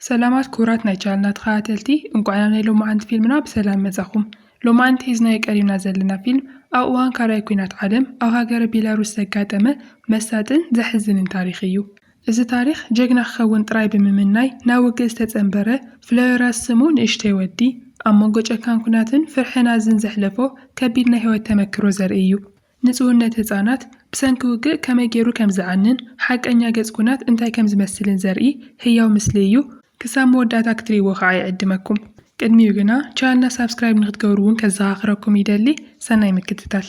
ሰላማት ክቡራት ናይ ቻነልና ተኸታተልቲ እንቋዕ ናብ ናይ ሎማዓንቲ ፊልምና ብሰላም መጻኹም። ሎማዓንቲ ሒዝናዮ ቀሪብና ዘለና ፊልም ኣብ እዋን ካልኣይ ኲናት ዓለም ኣብ ሃገረ ቤላሩስ ዘጋጠመ መሳጥን ዘሕዝንን ታሪኽ እዩ። እዚ ታሪኽ ጀግና ክኸውን ጥራይ ብምምናይ ናብ ውግእ ዝተጸንበረ ፍሎዮራስ ስሙ ንእሽተይ ወዲ ኣብ መንጎ ጨካን ኲናትን ፍርሒ ናዝን ዘሕለፎ ከቢድ ናይ ህይወት ተመክሮ ዘርኢ እዩ። ንጽውነት ህጻናት ብሰንኪ ውግእ ከመይ ገይሩ ከም ዝዓንን ሓቀኛ ገጽ ኩናት እንታይ ከም ዝመስልን ዘርኢ ህያው ምስሊ እዩ። ክሳብ መወዳእታ ክትርእይዎ ከኣ ይዕድመኩም። ቅድሚኡ ግና ቻነልና ሳብስክራይብ ንክትገብሩ እውን ከዘኻኽረኩም ይደሊ። ሰናይ ምክትታል።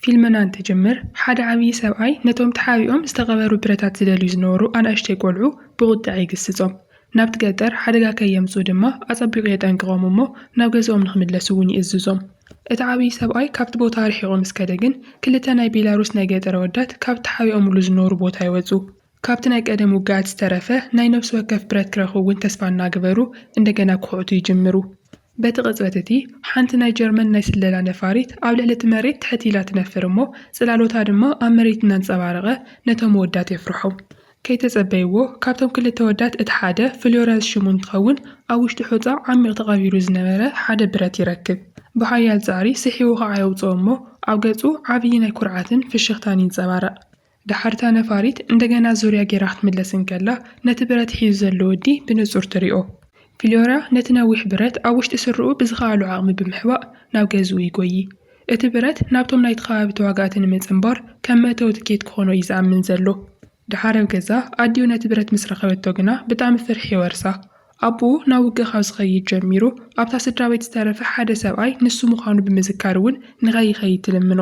ፊልምና እንትጅምር፣ ሓደ ዓብዪ ሰብኣይ ነቶም ተሓቢኦም ዝተቐበሩ ብረታት ዝደልዩ ዝነበሩ ኣናእሽተይ ቈልዑ ብቝጥዐ ይግስጾም። ናብቲ ገጠር ሓደጋ ከየምጽኡ ድማ ኣጸቢቑ የጠንቅቖም እሞ ናብ ገዝኦም ንኽምለሱ እውን ይእዝዞም። እቲ ዓብዪ ሰብኣይ ካብቲ ቦታ ርሒቑ ምስ ከደ ግን ክልተ ናይ ቤላሩስ ናይ ገጠር ኣወዳት ካብቲ ተሓቢኦምሉ ዝነበሩ ቦታ ይወጹ። ካብቲ ናይ ቀደም ውግኣት ዝተረፈ ናይ ነብሲ ወከፍ ብረት ክረኽቡ እውን ተስፋ እናገበሩ እንደገና ክኹዕቱ ይጅምሩ። በቲ ቅጽበት እቲ ሓንቲ ናይ ጀርመን ናይ ስለላ ነፋሪት ኣብ ልዕሊ እቲ መሬት ትሕት ኢላ ትነፍር እሞ ጽላሎታ ድማ ኣብ መሬት እናንጸባረቐ ነቶም ኣወዳት የፍርሖም። ከይተጸበይዎ ካብቶም ክልተ ኣወዳት እቲ ሓደ ፍሎረንስ ሽሙ እንትኸውን ኣብ ውሽጢ ሑጻ ዓሚቕ ተቐቢሩ ዝነበረ ሓደ ብረት ይረክብ። ብሓያል ጻዕሪ ስሒቡ ከኣ የውጽኦ እሞ ኣብ ገጹ ዓብዪ ናይ ኩርዓትን ፍሽኽታን ይንጸባረቕ። ደሓር እታ ነፋሪት እንደገና ዙርያ ገይራ ክትምለስ እንከላ ነቲ ብረት ሒዙ ዘሎ ወዲ ብንጹር ትሪኦ። ፍሎራ ነቲ ነዊሕ ብረት ኣብ ውሽጢ ስረኡ ብዝከኣሎ ዓቕሚ ብምሕባእ ናብ ገዝኡ ይጎዪ። እቲ ብረት ናብቶም ናይቲ ከባቢ ተዋጋእቲ ንምጽንባር ከም መእተዊ ትኬት ክኾኖ እዩ ዝኣምን ዘሎ። ደሓር ኣብ ገዛ ኣዲኡ ነቲ ብረት ምስ ረኸበቶ ግና ብጣዕሚ ፍርሒ ይወርሳ። ኣቦኡ ናብ ውግእ ካብ ዝኸይድ ጀሚሩ ኣብታ ስድራቤት ዝተረፈ ሓደ ሰብኣይ ንሱ ምዃኑ ብምዝካር እውን ንኸይኸይድ ትልምኖ።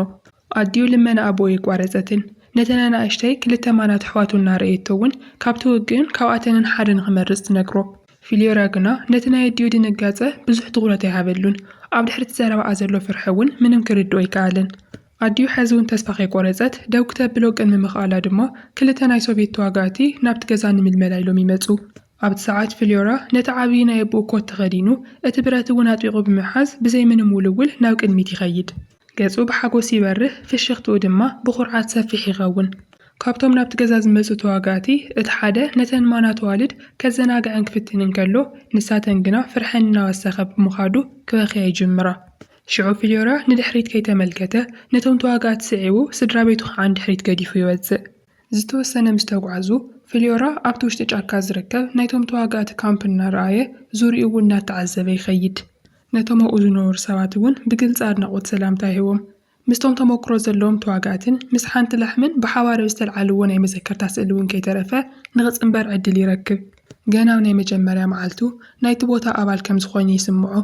ኣዲኡ ልመና ኣቦኡ ኣይቋረጸትን። ነተን ኣናእሽተይ ክልተ ማናት ኣሕዋቱ እናረኣየቶ እውን ካብቲ ውግእን ካብኣተንን ሓደ ንኽመርጽ ትነግሮ። ፊልዮራ ግና ነቲ ናይ ኣዲኡ ድንጋጸ ብዙሕ ትኹረት ኣይሃበሉን። ኣብ ድሕሪ'ቲ ዘረባኣ ዘሎ ፍርሒ እውን ምንም ክርድኦ ኣይከኣለን። ኣዲኡ ሕዚ እውን ተስፋ ከይቆረጸት ደው ክተብሎ ቅድሚ ምኽኣላ ድማ ክልተ ናይ ሶቭየት ተዋጋእቲ ናብቲ ገዛ ንምልመላ ኢሎም ይመጹ። ኣብቲ ሰዓት ፊልዮራ ነቲ ዓብዪ ናይ ኣቦኡ ኮት ተኸዲኑ፣ እቲ ብረት እውን ኣጥቢቑ ብምሓዝ ብዘይ ምንም ውልውል ናብ ቅድሚት ይኸይድ። ገጹ ብሓጎስ ይበርህ፣ ፍሽኽትኡ ድማ ብኹርዓት ሰፊሕ ይኸውን። ካብቶም ናብቲ ገዛ ዝመጹ ተዋጋእቲ እቲ ሓደ ነተን ማናት ኣዋልድ ከዘናግዐን ክፍትን እንከሎ፣ ንሳተን ግና ፍርሐን እናወሰኸ ብምኻዱ ክበኽያ ይጅምራ። ሽዑ ፍልዮራ ንድሕሪት ከይተመልከተ ነቶም ተዋጋእቲ ስዒቡ ስድራቤቱ ኸኣ ንድሕሪት ገዲፉ ይወጽእ። ዝተወሰነ ምስ ተጓዕዙ፣ ፍልዮራ ኣብቲ ውሽጢ ጫካ ዝርከብ ናይቶም ተዋጋእቲ ካምፕ እናረኣየ፣ ዙርዩኡ እውን እናተዓዘበ ይኸይድ። ነቶም ኣብኡ ዝነበሩ ሰባት እውን ብግልጺ ኣድናቖት ሰላምታ ይህቦም። ምስቶም ተመክሮ ዘለዎም ተዋጋእትን ምስ ሓንቲ ላሕምን ብሓባር ኣብ ዝተልዓልዎ ናይ መዘከርታ ስእሊ እውን ከይተረፈ ንኽጽንበር ዕድል ይረክብ። ገና ኣብ ናይ መጀመርያ መዓልቱ ናይቲ ቦታ ኣባል ከም ዝዀይኑ ይስምዖ።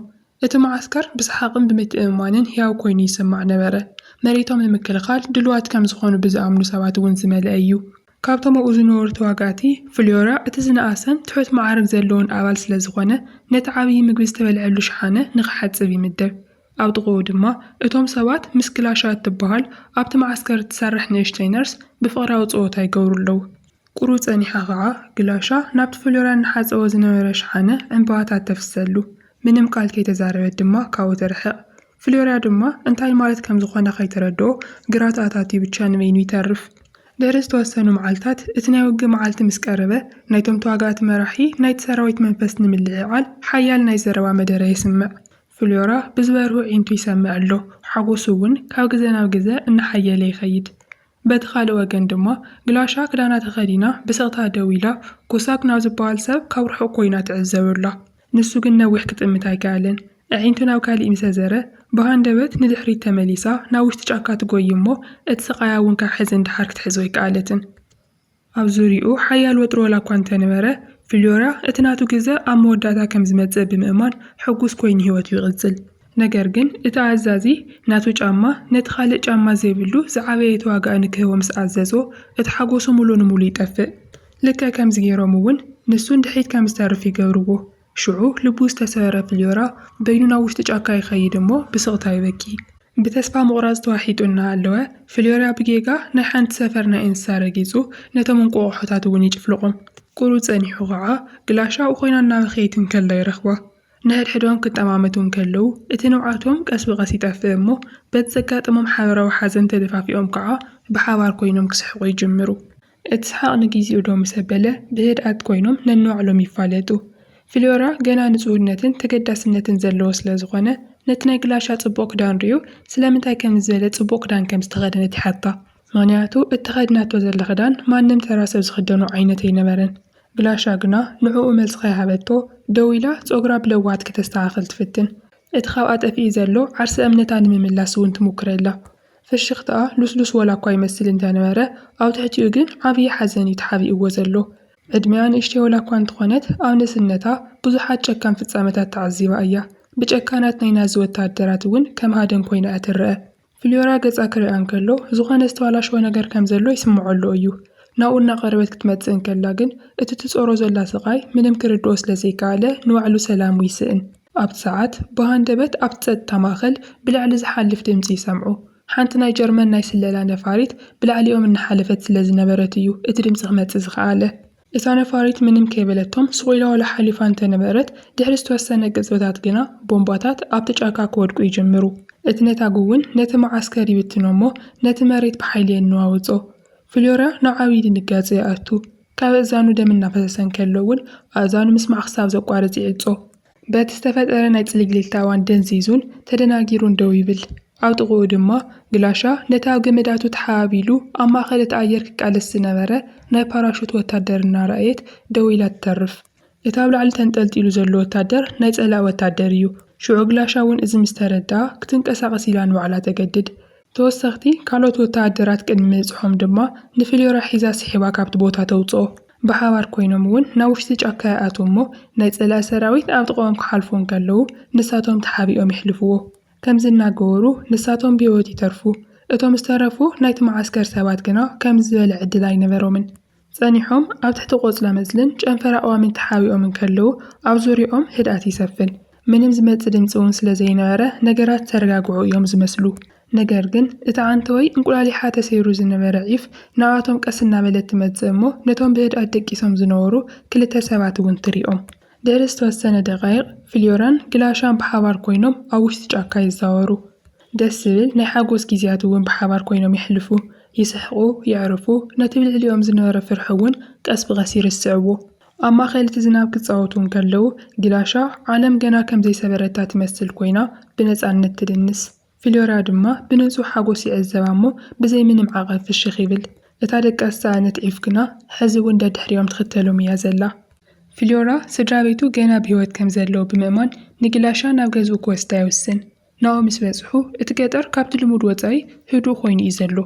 እቲ መዓስከር ብሰሓቕን ብምትእምማንን ህያው ኰይኑ ይስማዕ ነበረ። መሬቶም ንምክልኻል ድሉዋት ከም ዝዀኑ ብዝኣምኑ ሰባት እውን ዝመልአ ኢዩ። ካብቶም ኣብኡ ዝነበሩ ተዋጋእቲ፣ ፍልዮራ እቲ ዝነኣሰን ትሑት መዓርግ ዘለዎን ኣባል ስለ ዝዀነ፣ ነቲ ዓብዪ ምግቢ ዝተበልዐሉ ሸሓነ ንኽሓጽብ ይምደብ። ኣብ ጥቓኡ ድማ እቶም ሰባት ምስ ግላሻ እትበሃል ኣብቲ መዓስከር እትሰርሕ ንእሽተይ ነርስ ብፍቕራዊ ጸወታ ይገብሩ ኣለዉ። ቍሩብ ጸኒሓ ኸኣ ግላሻ ናብቲ ፍልዮራ እናሓጸቦ ዝነበረ ሸሓነ ዕምባባታት ተፍስሰሉ። ምንም ቃል ከይተዛረበት ድማ ካብኡ ትርሕቕ። ፍልዮራ ድማ እንታይ ማለት ከም ዝዀነ ከይተረድኦ ግራት ኣታትዩ ብቻ ንበይኑ ይተርፍ። ድሕሪ ዝተወሰኑ መዓልታት፣ እቲ ናይ ውግእ መዓልቲ ምስ ቀረበ፣ ናይቶም ተዋጋእቲ መራሒ ናይቲ ሰራዊት መንፈስ ንምልዕዓል ሓያል ናይ ዘረባ መደረ የስምዕ። ፍልዮራ ብዝበርሁ ኣዒንቱ ይሰምዕ ኣሎ፣ ሓጐሱ እውን ካብ ግዘ ናብ ግዘ እናሓየለ ይኸይድ። በቲ ካልእ ወገን ድማ፣ ግላሻ ክዳና ተኸዲና ብስቕታ ደው ኢላ፣ ኮሳክ ናብ ዝበሃል ሰብ ካብ ርሑቕ ኰይና ትዕዘብ ኣላ። ንሱ ግን ነዊሕ ክጥምት ኣይከኣለን። ኣዒንቱ ናብ ካሊእ ምስ ኣዘረ፣ ብሃንደበት ንድሕሪት ተመሊሳ ናብ ውሽጢ ጫካ ትጎዪ እሞ፣ እቲ ስቓያ እውን ካብ ሕዚ ንደሓር ክትሕዞ ኣይከኣለትን። ኣብ ዙርያኡ ሓያል ወጥሪ ዋላ እኳ እንተነበረ፣ ፊልዮራ እቲ ናቱ ግዘ ኣብ መወዳእታ ከም ዝመጽእ ብምእማን ሕጉስ ኮይኑ ህይወቱ ይቕጽል። ነገር ግን እቲ ኣዛዚ ናቱ ጫማ ነቲ ካልእ ጫማ ዘይብሉ ዝዓበየ ተዋጋኢ ንክህቦ ምስ ኣዘዞ፣ እቲ ሓጎሱ ምሉእ ንምሉእ ይጠፍእ። ልክዕ ከምዚ ገይሮም እውን ንሱ ንድሕሪት ከም ዝተርፍ ይገብርዎ። ሽዑ ልቡ ዝተሰበረ ፍልዮራ በይኑ ናብ ውሽጢ ጫካ ይኸይድ እሞ ብስቕታ ይበኪ። ብተስፋ ምቑራጽ ተዋሒጡ እናሃለወ፣ ፍልዮራ ብጌጋ ናይ ሓንቲ ሰፈር ናይ እንስሳ ረጊጹ ነቶም እንቋቑሖታት እውን ይጭፍልቖም። ቍሩብ ጸኒሑ ኸኣ ግላሻ ኣብኡ ዀይና እናበኸየት እንከላ ይረኽባ። ንሕድሕዶም ክጠማመቱ እንከለዉ እቲ ንብዓቶም ቀስ ብቐስ ይጠፍእ እሞ በቲ ዘጋጠሞም ሓበራዊ ሓዘን ተደፋፊኦም ከኣ ብሓባር ኰይኖም ክስሕቑ ይጅምሩ። እቲ ሰሓቕ ንጊዜኡዶ ምስ ኣበለ፣ ብህድኣት ኮይኖም ነንባዕሎም ይፋለጡ። ፍልዮራ ገና ንጹህነትን ተገዳስነትን ዘለዎ ስለ ዝኾነ፣ ነቲ ናይ ግላሻ ጽቡቕ ክዳን ርእዩ፣ ስለምንታይ ከምዚ ዝበለ ጽቡቕ ክዳን ከም ዝተኸደነት ይሓታ። ምኽንያቱ እቲ ተኸዲናቶ ዘላ ክዳን ማንም ተራ ሰብ ዝኽደኖ ዓይነት ኣይነበረን። ግላሻ ግና ንዕኡ መልሲ ከይሃበቶ፣ ደው ኢላ ጸጉራ ብለውሃት ከተስተኻኽል ትፍትን። እቲ ካብኣ ጠፊኡ ዘሎ ዓርሰ እምነታ ንምምላስ እውን ትሙክር ኣላ። ፍሽኽታኣ ልስሉስ ዋላኳ ይመስል እንተነበረ፣ ኣብ ትሕቲኡ ግን ዓብዪ ሓዘን እዩ ተሓቢእዎ ዘሎ። ዕድሚኣ ንእሽተይ ዋላኳ እንተኾነት፣ ኣብ ንእስነታ ብዙሓት ጨካን ፍጻመታት ተዓዚባ እያ። ብጨካናት ናይ ናዚ ወተሃደራት እውን ከም ሃደን ኮይና እያ ትረኣ። ፍልዮራ ገጻ ክርኣ እንከሎ ዝኾነ ዝተባላሸወ ነገር ከም ዘሎ ይስምዖ ኣሎ እዩ። ናብኡ እናቐረበት ክትመጽእ እንከላ ግን፣ እቲ ትጾሮ ዘላ ስቓይ ምንም ክርድኦ ስለ ዘይከኣለ ንባዕሉ ሰላሙ ይስእን። ኣብቲ ሰዓት ብሃንደበት ኣብቲ ጸጥታ ማእከል ብላዕሊ ዝሓልፍ ድምጺ ይሰምዑ። ሓንቲ ናይ ጀርመን ናይ ስለላ ነፋሪት ብላዕሊኦም እናሓለፈት ስለ ዝነበረት እዩ እቲ ድምጺ ክመጽእ ዝኸኣለ። እታ ነፋሪት ምንም ከይበለቶም ሱቕ ኢላ ዋላ ሓሊፋ እንተ ነበረት፣ ድሕሪ ዝተወሰነ ቅጽበታት ግና ቦምባታት ኣብቲ ጫካ ክወድቁ ይጅምሩ። እቲ ነታጒ እውን ነቲ መዓስከር ይብትኖ እሞ ነቲ መሬት ብሓይሊ የነዋውጾ። ፍሎርያ ናብ ዓብዪ ድንጋጸ ይኣቱ። ካብ ኣእዛኑ ደም እናፈሰሰ እንከሎ እውን ኣእዛኑ ምስማዕ ክሳብ ዘቋርጽ ይዕጾ። በቲ ዝተፈጠረ ናይ ጽልግልግታ እዋን ደንዚዙን ተደናጊሩን ደው ይብል። ኣብ ጥቕኡ ድማ ግላሻ ነቲ ኣብ ገመዳቱ ተሓባቢሉ ኣብ ማእከል እቲ ኣየር ክቃለስ ዝነበረ ናይ ፓራሹት ወታደር እናረኣየት ደው ኢላ ትተርፍ። እቲ ኣብ ላዕሊ ተንጠልጢሉ ዘሎ ወታደር ናይ ጸላኢ ወታደር እዩ። ሽዑ ግላሻ እውን እዚ ምስ ተረድኣ ክትንቀሳቐስ ኢላ ንባዕላ ተገድድ። ተወሰኽቲ ካልኦት ወተሃደራት ቅድሚ ምብጽሖም ድማ ንፍልዮራ ሒዛ ስሒባ ካብቲ ቦታ ተውጽኦ። ብሓባር ኰይኖም እውን ናብ ውሽጢ ጫካ ይኣትዉ እሞ ናይ ጸላኢ ሰራዊት ኣብ ጥቓኦም ክሓልፉ እንከለዉ ንሳቶም ተሓቢኦም የሕልፍዎ። ከምዚ እናገበሩ ንሳቶም ብህይወት ይተርፉ። እቶም ዝተረፉ ናይቲ መዓስከር ሰባት ግና ከምዚ ዝበለ ዕድል ኣይነበሮምን። ጸኒሖም ኣብ ትሕቲ ቆጽለመጽልን ጨንፈር ኣእዋምን ተሓቢኦም እንከለዉ፣ ኣብ ዙርያኦም ህድኣት ይሰፍን። ምንም ዝመጽእ ድምጺ እውን ስለ ዘይነበረ፣ ነገራት ዝተረጋግዑ እዮም ዝመስሉ። ነገር ግን፣ እቲ ዓንተወይ እንቁላሊሓ ተሰይሩ ዝነበረ ዒፍ ንኣኣቶም ቀስ እናበለት ትመጽእ እሞ ነቶም ብህድኣት ደቂሶም ዝነበሩ ክልተ ሰባት እውን ትሪኦም። ድሕሪ ዝተወሰነ ደቓይቕ፣ ፍልዮራን ግላሻን ብሓባር ኰይኖም ኣብ ውሽጢ ጫካ ይዛወሩ። ደስ ዝብል ናይ ሓጎስ ግዜያት እውን ብሓባር ኮይኖም የሕልፉ። ይስሕቁ፣ የዕርፉ፣ ነቲ ብልዕሊኦም ዝነበረ ፍርሒ እውን ቀስ ብቐስ ይርስዕዎ። ኣብ ማእከል እቲ ዝናብ ክጻወቱ እንከለዉ፣ ግላሻ ዓለም ገና ከም ዘይሰበረታ ትመስል ኮይና ብነጻነት ትድንስ። ፍልዮራ ድማ ብንጹህ ሓጎስ ይዕዘባ እሞ ብዘይ ምንም ዓቐብ ፍሽኽ ይብል። እታ ደቃ ዝጸዓነት ዒፍ ግና ሕዚ እውን ደድሕሪኦም ትኽተሎም እያ ዘላ። ፍልዮራ ስድራቤቱ ገና ብህይወት ከም ዘለዉ ብምእማን ንግላሻ ናብ ገዝኡ ክወስዳ ይውስን። ናሆ ምስ በጽሑ፣ እቲ ገጠር ካብቲ ልሙድ ወጻኢ ህዱእ ኰይኑ እዩ ዘሎ።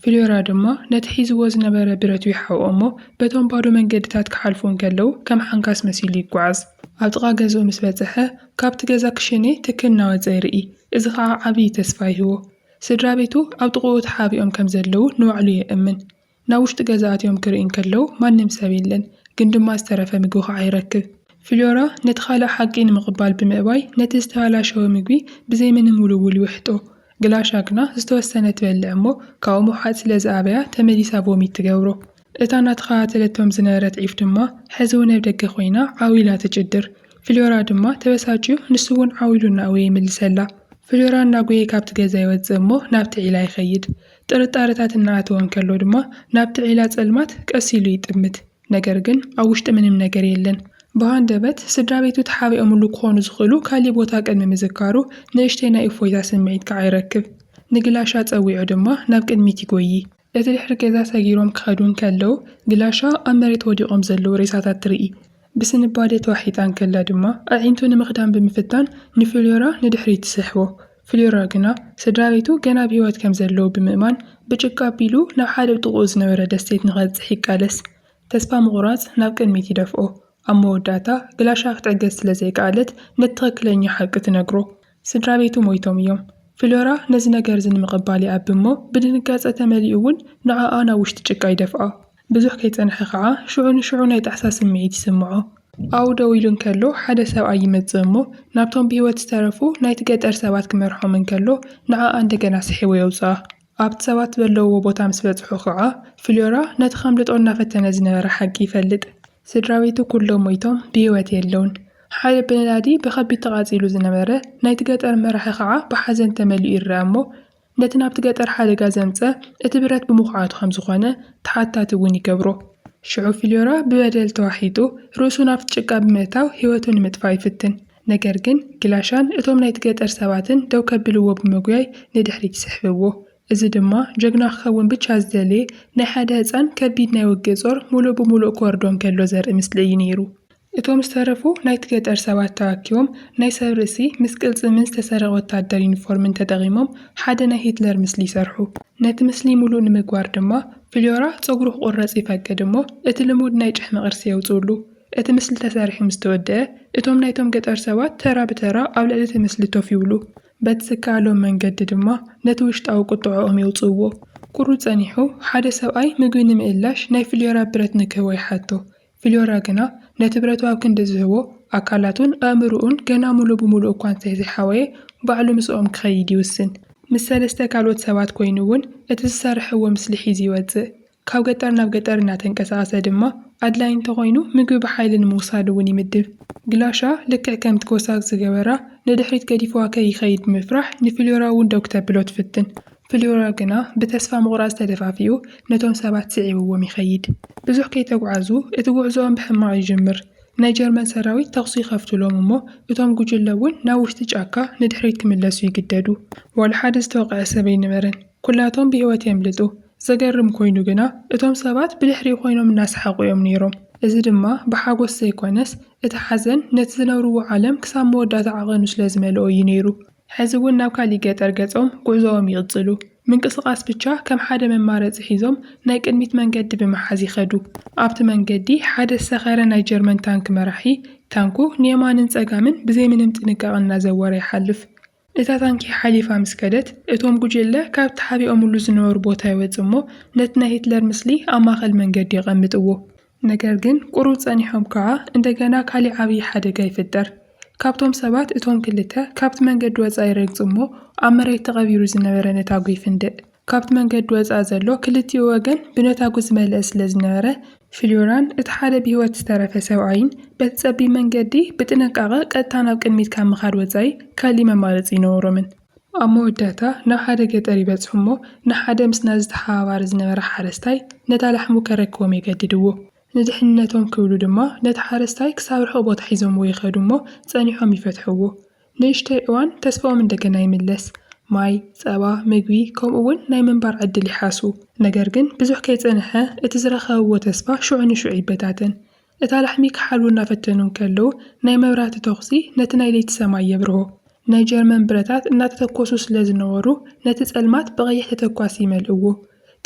ፍልዮራ ድማ ነቲ ሒዝዎ ዝነበረ ብረቱ ይሓብኦ እሞ በቶም ባዶ መንገድታት ክሓልፉ እንከለዉ ከም ሓንካስ መሲሉ ይጓዓዝ። ኣብ ጥቓ ገዝኡ ምስ በጽሐ፣ ካብቲ ገዛ ክሽኔ ትኪ እናወጸ ይርኢ፣ እዚ ኸኣ ዓብዪ ተስፋ ይህቦ። ስድራቤቱ ኣብ ጥቓኡ ተሓቢኦም ከም ዘለዉ ንባዕሉ የእምን። ናብ ውሽጢ ገዛ ኣትዮም ክርኢ እንከለዉ ማንም ሰብ የለን፣ ግን ድማ ዝተረፈ ምግቢ ኸኣ ይረክብ። ፍሎራ ነቲ ኻልእ ሓቂ ንምቕባል ብምእባይ ነቲ ዝተባላሸወ ምግቢ ብዘይ ምንም ውልውል ይውሕጦ። ግላሻ ግና ዝተወሰነ ትበልዕ እሞ ካብኡ ምውሓጥ ስለ ዝኣበያ ተመሊሳ ቮሚት ትገብሮ። እታ እናተኸታተለቶም ዝነበረት ዒፍ ድማ ሕዚ እውን ኣብ ደገ ኾይና ዓው ኢላ ትጭድር። ፍሎራ ድማ ተበሳጭዩ ንሱ እውን ዓው ኢሉ እናእወየ ይምልሰላ። ፍሎራ እናጎየ ካብቲ ገዛ ይወጽእ እሞ ናብቲ ዒላ ይኸይድ። ጥርጣረታት እናኣተወ እንከሎ ድማ ናብቲ ዒላ ጸልማት ቀስ ኢሉ ይጥምት። ነገር ግን ኣብ ውሽጢ ምንም ነገር የለን። ብሃንደበት ስድራቤቱ ተሓቢኦምሉ ክኾኑ ዝኽእሉ ካሊእ ቦታ ቅድሚ ምዝካሩ ንእሽተይ ናይ እፎይታ ስምዒት ከዓ ይረክብ። ንግላሻ ጸዊዑ ድማ ናብ ቅድሚት ይጎዪ። እቲ ድሕሪ ገዛ ሰጊሮም ክኸዱ እንከለው ግላሻ ኣብ መሬት ወዲቆም ዘለው ሬሳታት ትርኢ። ብስንባደ ተዋሒጣ እንከላ ድማ ኣዒንቱ ንምኽዳን ብምፍታን ንፍልዮራ ንድሕሪት ትስሕቦ። ፍልዮራ ግና ስድራቤቱ ገና ብህይወት ከም ዘለዉ ብምእማን ብጭቃ ኣቢሉ ናብ ሓደ ኣብ ጥቕኡ ዝነበረ ደሴት ንኸብጽሕ ይቃለስ። ተስፋ ምቑራጽ ናብ ቅድሚት ይደፍኦ። ኣብ መወዳእታ ግላሻ ክትዕገስ ስለ ዘይከኣለት ነቲ ትኽክለኛ ሓቂ ትነግሮ። ስድራቤቱ ሞይቶም እዮም። ፍሎራ ነዚ ነገር'ዚ ንምቕባል ይኣቢ እሞ ብድንጋጸ ተመሊኡ እውን ንዓኣ ናብ ውሽጢ ጭቃ ይደፍኦ። ብዙሕ ከይጸንሐ ከኣ ሽዑ ንሽዑ ናይ ጣዕሳ ስምዒት ይስምዖ። ኣብኡ ደው ኢሉ እንከሎ ሓደ ሰብኣይ ይመጽእ እሞ ናብቶም ብህይወት ዝተረፉ ናይቲ ገጠር ሰባት ክመርሖም እንከሎ ንዓኣ እንደገና ስሒቡ የውጽኣ። ኣብቲ ሰባት ዘለዉዎ ቦታ ምስ በጽሑ ኸኣ፣ ፍልዮራ ነቲ ኼምልጦ እናፈተነ ዝነበረ ሓቂ ይፈልጥ። ስድራቤቱ ኵሎም ሞይቶም ብህይወት የለዉን። ሓደ ብነዳዲ ብኸቢድ ተቓጺሉ ዝነበረ ናይቲ ገጠር መራሒ ኸኣ ብሓዘን ተመሊኡ ይርኣ እሞ፣ ነቲ ናብቲ ገጠር ሓደጋ ዘምጽኣ እቲ ብረት ብምዅዓቱ ኸም ዝዀነ ተሓታቲ እውን ይገብሮ። ሽዑ ፍልዮራ ብበደል ተዋሒጡ ርእሱ ናብቲ ጭቃ ብምእታው ህይወቱ ንምጥፋእ ይፍትን። ነገር ግን ግላሻን እቶም ናይቲ ገጠር ሰባትን ደው ከብልዎ ብምጉያይ ንድሕሪት ይስሕብዎ። እዚ ድማ ጀግና ክኸውን ብቻ ዝደለየ ናይ ሓደ ህጻን ከቢድ ናይ ውግእ ጾር ሙሉእ ብሙሉእ ክወርዶ እንከሎ ዘርኢ ምስሊ እዩ ነይሩ። እቶም ዝተረፉ ናይቲ ገጠር ሰባት ተኣኪቦም ናይ ሰብ ርእሲ ምስ ቅልጽምን ዝተሰረቐ ወታደር ዩኒፎርምን ተጠቒሞም ሓደ ናይ ሂትለር ምስሊ ይሰርሑ። ነቲ ምስሊ ሙሉእ ንምግባር ድማ ፍልዮራ ጸጉሩ ክቑረጽ ይፈቅድ እሞ እቲ ልሙድ ናይ ጭሕሚ ቅርጺ የውጽኡሉ። እቲ ምስሊ ተሰሪሑ ምስ ተወድኣ፣ እቶም ናይቶም ገጠር ሰባት ተራ ብተራ ኣብ ልዕሊ እቲ ምስሊ ኮፍ ይብሉ። በቲ ዝከኣሎም መንገዲ ድማ ነቲ ውሽጣዊ ቍጥዐኦም የውጽእዎ። ቍሩብ ጸኒሑ፣ ሓደ ሰብኣይ ምግቢ ንምእላሽ ናይ ፍልዮራ ብረት ንክህቦ ይሓቶ። ፍልዮራ ግና ነቲ ብረቱ ኣብ ክንዲ ዝህቦ፣ ኣካላቱን ኣእምሮኡን ገና ምሉእ ብምሉእ እኳ እንተ ዘይሓወየ፣ ባዕሉ ምስኦም ክኸይድ ይውስን። ምስ ሰለስተ ካልኦት ሰባት ኰይኑ እውን እቲ ዝሰርሕዎ ምስሊ ሒዙ ይወጽእ። ካብ ገጠር ናብ ገጠር እናተንቀሳቐሰ ድማ ኣድላዪ እንተኾይኑ ምግቢ ብሓይሊ ንምውሳድ እውን ይምድብ። ግላሻ ልክዕ ከም ትኮሳክ ዝገበራ ንድሕሪት ገዲፍዋ ከይኸይድ ብምፍራሕ ንፍልዮራ እውን ደው ክተብሎ ትፍትን። ፍልዮራ ግና ብተስፋ ምቑራጽ ተደፋፊኡ ነቶም ሰባት ስዒብዎም ይኸይድ። ብዙሕ ከይተጉዓዙ እቲ ጉዕዞኦም ብሕማቕ ይጅምር። ናይ ጀርመን ሰራዊት ተኹሲ ይኸፍቱሎም እሞ እቶም ጉጅለ እውን ናብ ውሽጢ ጫካ ንድሕሪት ክምለሱ ይግደዱ። ዋላ ሓደ ዝተወቐዐ ሰብ ኣይነበረን። ኵላቶም ብህይወት የምልጡ። ዘገርም ኰይኑ ግና፣ እቶም ሰባት ብድሕሪኡ ዀይኖም እናሰሓቑ እዮም ነይሮም። እዚ ድማ ብሓጐስ ዘይኰነስ፣ እቲ ሓዘን ነቲ ዝነብርዎ ዓለም ክሳብ መወዳእታ ዓቐኑ ስለ ዝመልኦ እዩ ነይሩ። ሕዚ እውን ናብ ካልእ ገጠር ገጾም ጕዕዞኦም ይቕጽሉ። ምንቅስቓስ ብቻ ከም ሓደ መማረጺ ሒዞም ናይ ቅድሚት መንገዲ ብምሓዝ ይኸዱ። ኣብቲ መንገዲ ሓደ ዝሰኸረ ናይ ጀርመን ታንክ መራሒ፣ ታንኩ ንየማንን ጸጋምን ብዘይ ምንም ጥንቃቐ እናዘወረ ይሓልፍ። እታ ታንኪ ሓሊፋ ምስ ከደት፣ እቶም ጕጅለ ካብ ተሓቢኦምሉ ዝነበሩ ቦታ ይወጽኡ እሞ ነቲ ናይ ሂትለር ምስሊ ኣብ ማእከል መንገዲ የቐምጥዎ። ነገር ግን ቍሩብ ጸኒሖም ከኣ እንደገና ካልእ ዓብዪ ሓደጋ ይፍጠር። ካብቶም ሰባት እቶም ክልተ ካብቲ መንገዲ ወጻኢ ይረግጹ እሞ ኣብ መሬት ተቐቢሩ ዝነበረ ነታጒ ይፍንድእ። ካብቲ መንገዲ ወጻኢ ዘሎ ክልቲኡ ወገን ብነታጒ ዝመልአ ስለ ዝነበረ፣ ፍልዮራን እቲ ሓደ ብህይወት ዝተረፈ ሰብኣይን በቲ ጸቢብ መንገዲ ብጥንቃቐ ቀጥታ ናብ ቅድሚት ካብ ምኻድ ወጻኢ ካልእ መማረጺ ኣይነበሮምን። ኣብ መወዳእታ ናብ ሓደ ገጠር ይበጽሑ እሞ ንሓደ ምስ ናዚ ተሓባባሪ ዝነበረ ሓረስታይ ነታ ላሕሙ ከረክቦም የገድድዎ። ንድሕንነቶም ክብሉ ድማ ነቲ ሓረስታይ ክሳብ ርሑቕ ቦታ ሒዞምዎ ይኸዱ እሞ ጸኒሖም ይፈትሕዎ። ንእሽተይ እዋን ተስፋኦም እንደገና ይምለስ፣ ማይ፣ ጸባ፣ ምግቢ፣ ከምኡውን ናይ ምንባር ዕድል ይሓሱ። ነገር ግን ብዙሕ ከይጸንሐ እቲ ዝረኸብዎ ተስፋ ሽዑ ንሽዑ ይበታተን። እታ ላሕሚ ክሓልዉ እናፈተኑ እንከለዉ ናይ መብራህቲ ተኹሲ ነቲ ናይ ለይቲ ሰማይ የብርሆ። ናይ ጀርመን ብረታት እናተተኮሱ ስለ ዝነበሩ ነቲ ጸልማት ብቐይሕ ተተኳሲ ይመልእዎ።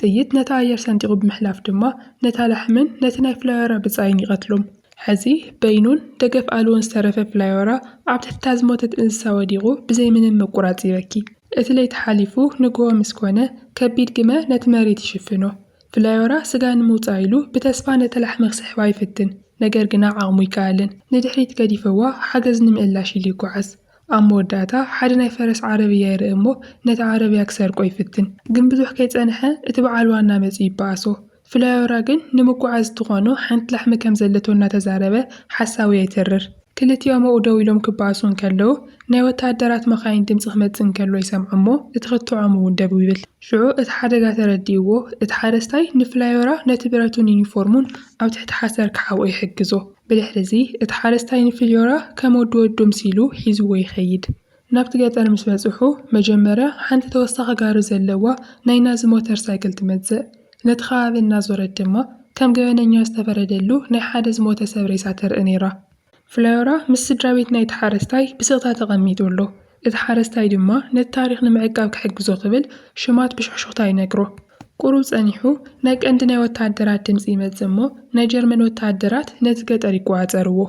ጥይት ነቲ ኣየር ሰንጢቑ ብምሕላፍ ድማ ነታ ላሕምን ነቲ ናይ ፍላዮራ ብጻይን ይቐትሎም። ሐዚ በይኑን ደገፍ ኣልቦን ዝተረፈ ፍላዮራ ኣብ ትሕቲ እታ ዝሞተት እንስሳ ወዲቑ ብዘይ ምንም ምቁራጽ ይበኪ። እቲ ለይቲ ሓሊፉ ንግሆ ምስ ኮነ፣ ከቢድ ግመ ነቲ መሬት ይሽፍኖ። ፍላዮራ ስጋ ንምውጻእ ኢሉ ብተስፋ ነታ ላሕሚ ክስሕባ ይፍትን፣ ነገር ግና ዓቕሙ ኣይከኣልን። ንድሕሪት ገዲፈዋ ሓገዝ ንምእላሽ ኢሉ ይጓዓዝ። ኣብ መወዳእታ ሓደ ናይ ፈረስ ዓረብያ ይርኢ እሞ ነቲ ዓረብያ ክሰርቆ ይፍትን። ግን ብዙሕ ከይጸንሐ እቲ በዓል ዋና መጺኡ ይበኣሶ። ፍላዮራ ግን ንምጉዓዝ እትኾኖ ሓንቲ ላሕሚ ከም ዘለቶ እናተዛረበ ሓሳዊ የትርር። ክልቲኦም ኣብኡ ደው ኢሎም ክበኣሱ እንከለዉ ናይ ወተሃደራት መኻይን ድምጺ ክመጽእ እንከሎ ይሰምዖ እሞ እቲ ክትዖም እውን ደው ይብል። ሽዑ እቲ ሓደጋ ተረዲእዎ እቲ ሓረስታይ ንፍላዮራ ነቲ ብረቱን ዩኒፎርሙን ኣብ ትሕቲ ሓሰር ክሓብኦ ይሕግዞ። ብድሕሪዚ እቲ ሓረስታይ ንፍልዮራ ከም ወዲ ወዱ ምሲሉ ሒዝዎ ይኸይድ። ናብቲ ገጠር ምስ በጽሑ መጀመርያ ሓንቲ ተወሳኺ ጋሪ ዘለዋ ናይ ናዚ ሞተር ሳይክል ትመጽእ። ነቲ ከባቢ እናዞረት ድማ ከም ገበነኛ ዝተፈረደሉ ናይ ሓደ ዝሞተ ሰብ ሬሳ ተርኢ ነይራ። ፍልዮራ ምስ ስድራቤት ናይቲ ሓረስታይ ብስቕታ ተቐሚጡ ኣሎ። እቲ ሓረስታይ ድማ ነቲ ታሪኽ ንምዕቃብ ክሕግዞ ክብል ሽማት ብሹኽሹኽታ ይነግሮ። ቁሩብ ጸኒሑ ናይ ቀንዲ ናይ ወተሃደራት ድምጺ ይመጽእ እሞ ናይ ጀርመን ወተሃደራት ነቲ ገጠር ይቆጻጸርዎ።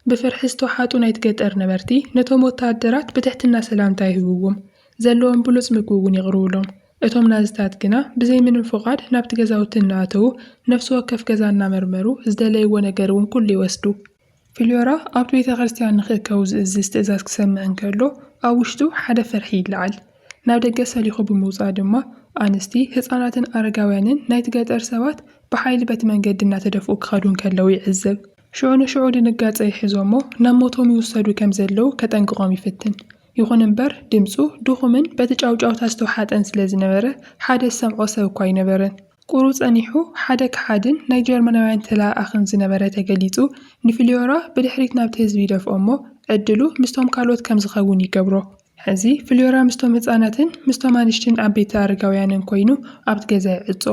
ብፍርሒ ዝተውሓጡ ናይቲ ገጠር ነበርቲ ነቶም ወተሃደራት ብትሕትና ሰላምታ ይህብዎም። ዘለዎም ብሉጽ ምግቢ እውን የቕርቡሎም። እቶም ናዝታት ግና ብዘይ ምንም ፍቓድ ናብቲ ገዛውቲ እናኣተዉ ነፍሲ ወከፍ ገዛ እናመርመሩ ዝደለይዎ ነገር እውን ኩሉ ይወስዱ። ፍልዮራ ኣብቲ ቤተ ክርስትያን ንኺእከቡ ዚእዝዝ ትእዛዝ ኪሰምዕ እንከሎ፣ ኣብ ውሽጡ ሓደ ፍርሒ ይለዓል። ናብ ደገ ሰሊኹ ብምውጻእ ድማ፣ ኣንስቲ፣ ህጻናትን ኣረጋውያንን ናይቲ ገጠር ሰባት ብሓይሊ በቲ መንገዲ እናተደፍኡ ኪኸዱ እንከለዉ ይዕዘብ። ሽዑ ንሽዑ ድንጋጸ ይሕዞ እሞ፣ ናብ ሞቶም ይውሰዱ ከም ዘለዉ ኬጠንቅቖም ይፍትን። ይኹን እምበር ድምጹ ድኹምን በቲ ጫውጫውታ ዝተውሓጠን ስለ ዝነበረ ሓደ ዝሰምዖ ሰብ እኳ ኣይነበረን። ቍሩ ጸኒሑ ሓደ ከሓድን ናይ ጀርመናውያን ተለኣኣኽን ዝነበረ ተገሊጹ ንፍልዮራ ብድሕሪት ናብቲ ህዝቢ ይደፍኦ እሞ ዕድሉ ምስቶም ካልኦት ከም ዝኸውን ይገብሮ። ሕዚ ፍልዮራ ምስቶም ህጻናትን ምስቶም ኣንሽትን ዓበይቲ ኣረጋውያንን ኰይኑ ኣብቲ ገዛ ይዕጾ።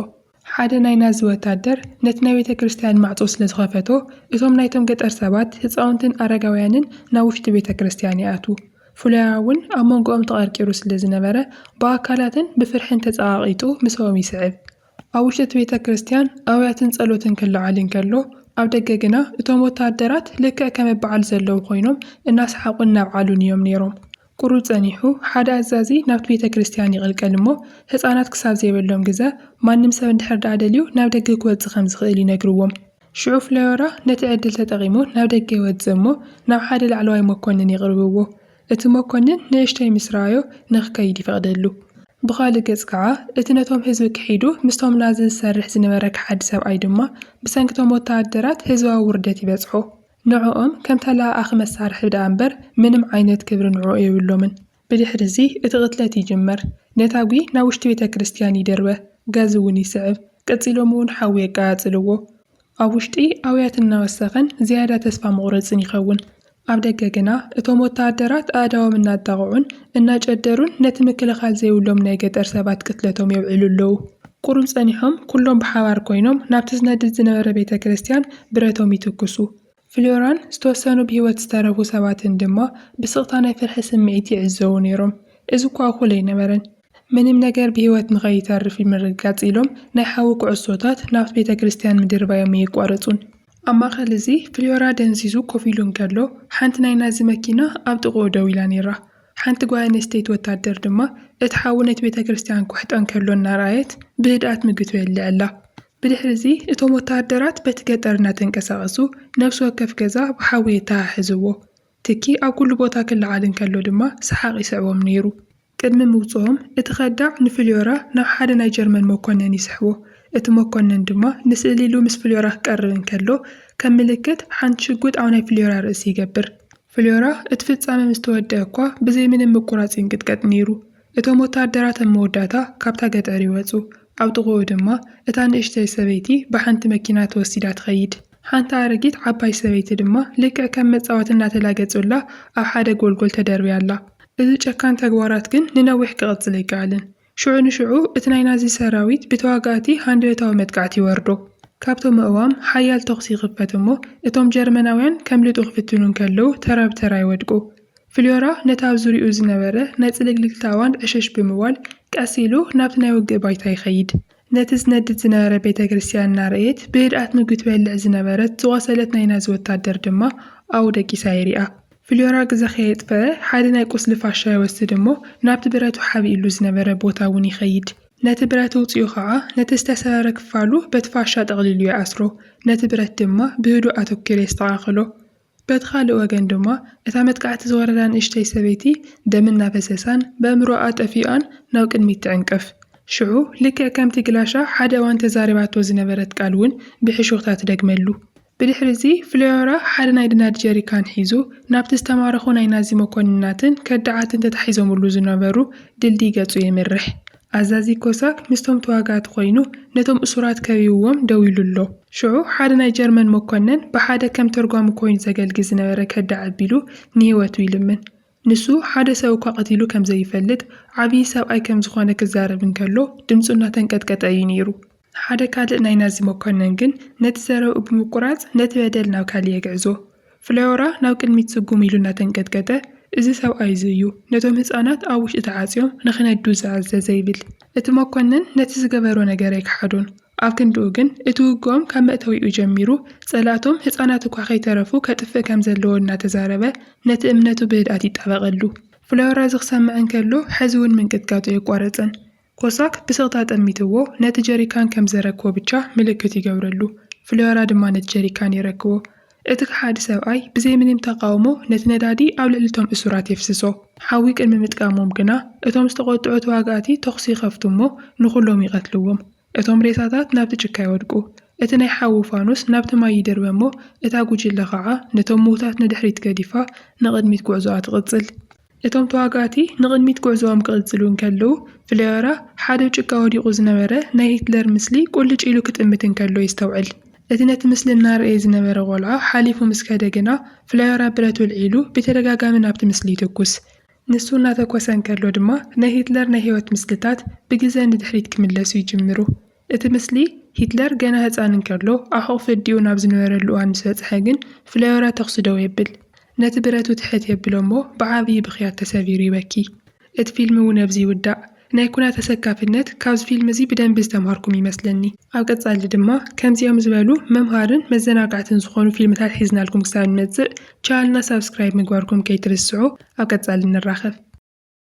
ሓደ ናይ ናዚ ወታደር ነቲ ናይ ቤተ ክርስትያን ማዕጾ ስለ ዝኸፈቶ፣ እቶም ናይቶም ገጠር ሰባት፣ ህጻውንትን ኣረጋውያንን ናብ ውሽጢ ቤተ ክርስትያን ይኣትዉ። ፍሎያ'ውን ኣብ መንጎኦም ተቐርቂሩ ስለ ዝነበረ፣ ብኣካላትን ብፍርሕን ተጸቓቒጡ ምሰኦም ይስዕብ። ኣብ ውሽጢ እቲ ቤተ ክርስትያን ኣውያትን ጸሎትን ክለዓል እንከሎ፣ ኣብ ደገ ግና እቶም ወተሃደራት ልክዕ ከም እበዓል ዘለዉ ኮይኖም እናሰሓቑን እናብዓሉን እዮም ነይሮም። ቁሩብ ጸኒሑ ሓደ ኣዛዚ ናብቲ ቤተ ክርስትያን ይቕልቀል እሞ ህጻናት ክሳብ ዘይበሎም ግዘ ማንም ሰብ እንድሕር ደኣ ደልዩ ናብ ደገ ክወጽእ ከም ዝኽእል ይነግርዎም። ሽዑ ፍለዮራ ነቲ ዕድል ተጠቒሙ ናብ ደገ ይወጽእ እሞ ናብ ሓደ ላዕለዋይ መኮንን የቕርብዎ። እቲ መኮንን ንእሽተይ ምስ ረኣዮ ንኽከይድ ይፈቕደሉ። ብኻልእ ገጽ ከኣ እቲ ነቶም ህዝቢ ክሒዱ ምስቶም ናዚ ዝሰርሕ ዝነበረ ከሓዲ ሰብኣይ ድማ ብሰንኪ እቶም ወተሃደራት ህዝባዊ ውርደት ይበጽሖ። ንዕኦም ከም ተለኣኣኺ መሳርሒ ደኣ እምበር ምንም ዓይነት ክብሪ ንዕኡ የብሎምን። ብድሕሪ'ዚ እቲ ቕትለት ይጅመር። ነታጒ ናብ ውሽጢ ቤተ ክርስትያን ይድርበ፣ ጋዝ'ውን ይስዕብ፣ ቀጺሎም'ውን ሓዊ የቀጻጽልዎ። ኣብ ውሽጢ ኣውያት እናወሰኸን ዝያዳ ተስፋ መቝረጽን ይኸውን። ኣብ ደገ ግና እቶም ወተሃደራት ኣእዳዎም እናጣቕዑን እናጨደሩን ነቲ ምክልኻል ዘይብሎም ናይ ገጠር ሰባት ቅትለቶም የብዕሉ ኣለዉ። ቍሩብ ጸኒሖም፣ ኵሎም ብሓባር ኰይኖም ናብቲ ዝነድድ ዝነበረ ቤተ ክርስትያን ብረቶም ይትኵሱ። ፍልዮራን ዝተወሰኑ ብህይወት ዝተረፉ ሰባትን ድማ ብስቕታ ናይ ፍርሒ ስምዒት ይዕዘቡ ነይሮም። እዚ እኳ እኹል ኣይነበረን። ምንም ነገር ብህይወት ንኸይተርፍ ንምርግጋጽ ኢሎም ናይ ሓዊ ኵዕሶታት ናብቲ ቤተ ክርስትያን ምድርባዮም ኣየቋረጹን። ኣብ ማእከል እዚ ፍልዮራ ደንዚዙ ኮፍ ኢሉ እንከሎ ሓንቲ ናይ ናዚ መኪና ኣብ ጥቓኡ ደው ኢላ ነይራ። ሓንቲ ጓል ኣንስተይቲ ወታደር ድማ፣ እቲ ሓዊ ነቲ ቤተ ክርስትያን ክውሕጦ ከሎ እናረኣየት ብህድኣት ምግቶ የልዕላ። ብድሕርዚ እቶም ወተሃደራት በቲ ገጠር እናተንቀሳቐሱ ነፍሲ ወከፍ ገዛ ብሓዊ የተሓሕዝዎ። ትኪ ኣብ ኵሉ ቦታ ክለዓል እንከሎ ድማ ሰሓቕ ይስዕቦም ነይሩ። ቅድሚ ምውጽኦም እቲ ከዳዕ ንፍልዮራ ናብ ሓደ ናይ ጀርመን መኰነን ይስሕቦ። እቲ መኰነን ድማ ንስእሊ ኢሉ ምስ ፍልዮራ ክቀርብ እንከሎ ከም ምልክት ሓንቲ ሽጉጥ ኣብ ናይ ፍልዮራ ርእሲ ይገብር። ፍልዮራ፣ እቲ ፍጻመ ምስ ተወድኣ እኳ ብዘይ ምንም ምቍራጽ ይንቅጥቀጥ ነይሩ። እቶም ወተሃደራት ኣብ መወዳእታ ካብታ ገጠር ይወጹ፣ ኣብ ጥቓኡ ድማ እታ ንእሽተይ ሰበይቲ ብሓንቲ መኪና ተወሲዳ ትኸይድ። ሓንቲ ኣረጊት ዓባይ ሰበይቲ ድማ ልክዕ ከም መጻወቲ እናተላገጹላ ኣብ ሓደ ጐልጐል ተደርብያ ኣላ። እዚ ጨካን ተግባራት ግን ንነዊሕ ክቕጽል ኣይከኣለን። ሽዑ ንሽዑ እቲ ናይ ናዚ ሰራዊት ብተዋጋእቲ ሃንደበታዊ መጥቃዕቲ ይወርዶ። ካብቶም ኣእዋም ሓያል ተኹሲ ይኽፈት እሞ እቶም ጀርመናውያን ከምልጡ ክፍትኑ እንከለዉ ተራ ብተራ ይወድቁ። ፍልዮራ ነቲ ኣብ ዙርያኡ ዝነበረ ናይ ጽልግልግታ ኣእዋን ዕሽሽ ብምባል ቀስ ኢሉ ናብቲ ናይ ውግእ ባይታ ይኸይድ። ነቲ ዝነድድ ዝነበረ ቤተ ክርስትያን እናረእየት ብህድኣት ምግቢ ትበልዕ ዝነበረት ዝቖሰለት ናይ ናዚ ወታደር ድማ ኣብኡ ደቂሳ ይሪኣ። ፍልዮራ ግዘ ከየጥፈኣ ሓደ ናይ ቁስሊ ፋሻ ይወስድ እሞ ናብቲ ብረቱ ሓቢእሉ ዝነበረ ቦታ እውን ይኸይድ። ነቲ ብረት እውፂኡ ከዓ ነቲ ዝተሰበረ ክፋሉ በቲ ፋሻ ጠቕሊሉ ይኣስሮ። ነቲ ብረት ድማ ብህዱእ ኣተኲሩ የስተኻኽሎ። በቲ ካልእ ወገን ድማ እታ መጥቃዕቲ ዝወረዳ ንእሽተይ ሰበይቲ ደም እናፈሰሳን በእምሮኣ ጠፊኡኣን ናብ ቅድሚት ትዕንቅፍ። ሽዑ ልክዕ ከምቲ ግላሻ ሓደ እዋን ተዛሪባቶ ዝነበረት ቃል እውን ብሕሹኽታ ትደግመሉ። ብድሕሪዚ ፍሎዮራ ሓደ ናይ ድናድ ጀሪካን ሒዙ ናብቲ ዝተማረኹ ናይ ናዚ መኮንናትን ከዳዓትን ተታሒዞምሉ ዝነበሩ ድልድይ ገጹ የምርሕ። ኣዛዚ ኮሳክ ምስቶም ተዋጋእቲ ዀይኑ ነቶም እሱራት ከቢብዎም ደው ኢሉ ኣሎ። ሽዑ ሓደ ናይ ጀርመን መኰነን ብሓደ ከም ተርጓሚ ኰይኑ ዘገልግል ዝነበረ ከዳዕ ኣቢሉ ንህይወቱ ይልምን። ንሱ ሓደ ሰብ እኳ ቀቲሉ ከም ዘይፈልጥ፣ ዓብዪ ሰብኣይ ከም ዝዀነ ክዛረብ እንከሎ ድምጹ እናተንቀጥቀጠ እዩ ነይሩ። ሓደ ካልእ ናይ ናዚ መኮነን ግን ነቲ ዘረብኡ ብምቁራጽ ነቲ በደል ናብ ካልእ የግዕዞ። ፍለዮራ ናብ ቅድሚት ስጉም ኢሉ እናተንቀጥቀጠ፣ እዚ ሰብኣይ እዚ እዩ ነቶም ህጻናት ኣብ ውሽጢ ተዓጽዮም ንኺነዱ ዝኣዘዘ ይብል። እቲ መኮነን ነቲ ዝገበሮ ነገር ኣይከሓዶን፣ ኣብ ክንድኡ ግን እቲ ውግኦም ካብ መእተዊኡ ጀሚሩ ጸላእቶም ህጻናት እኳ ከይተረፉ ከጥፍእ ከም ዘለዎ እናተዛረበ ነቲ እምነቱ ብህድኣት ይጣበቐሉ። ፍለዮራ እዚ ክሰምዕ እንከሎ ሕዚ'ውን ምንቅጥቃጡ ኣየቋረጸን። ኮሳክ ብስቕታ ጠሚትዎ ነቲ ጀሪካን ከም ዘረክቦ ብቻ ምልክት ይገብረሉ። ፍሎራ ድማ ነቲ ጀሪካን የረክቦ። እቲ ከሓዲ ሰብኣይ ብዘይ ምንም ተቓውሞ ነቲ ነዳዲ ኣብ ልዕሊ እቶም እሱራት የፍስሶ። ሓዊ ቅድሚ ምጥቃሞም ግና እቶም ዝተቖጥዑ ተዋጋእቲ ተኹሲ ይኸፍቱ እሞ ንኹሎም ይቐትልዎም። እቶም ሬሳታት ናብቲ ጭካ ይወድቁ። እቲ ናይ ሓዊ ፋኑስ ናብቲ ማይ ይድርበ እሞ እታ ጉጅለ ኸኣ ነቶም ምዉታት ንድሕሪት ገዲፋ ንቕድሚት ጉዕዞኣ ትቕጽል። እቶም ተዋጋእቲ ንቕድሚት ጉዕዞኦም ክቕጽሉ እንከለዉ፣ ፍለዮራ ሓደ ጭቃ ወዲቑ ዝነበረ ናይ ሂትለር ምስሊ ቁልጭ ኢሉ ክጥምት እንከሎ የስተውዕል። እቲ ነቲ ምስሊ እናረኣየ ዝነበረ ቆልዓ ሓሊፉ ምስ ከደ ግና፣ ፍለዮራ ብረት ወልዒሉ ብተደጋጋሚ ናብቲ ምስሊ ይትኩስ። ንሱ እናተኮሰ እንከሎ ድማ ናይ ሂትለር ናይ ህይወት ምስልታት ብግዘ ንድሕሪት ክምለሱ ይጅምሩ። እቲ ምስሊ፣ ሂትለር ገና ህጻን እንከሎ ኣብ ሕቝፊ ኣዲኡ ናብ ዝነበረሉ እዋን ምስ በጽሐ ግን፣ ፍለዮራ ተዅሲ ደው የብል። ነቲ ብረቱ ትሕት የብሎ እሞ ብዓብዪ ብኽያት ተሰቢሩ ይበኪ። እቲ ፊልም እውን ኣብዚ ይውዳእ። ናይ ኵናት ኣሰካፊነት ካብዚ ፊልም እዚ ብደንቢ ዝተምሃርኩም ይመስለኒ። ኣብ ቀጻሊ ድማ ከምዚኦም ዝበሉ መምሃርን መዘናጋዕትን ዝዀኑ ፊልምታት ሒዝናልኩም ክሳብ ንመጽእ፣ ቻነልና ሳብስክራይብ ምግባርኩም ከይትርስዑ። ኣብ ቀጻሊ ንራኸብ።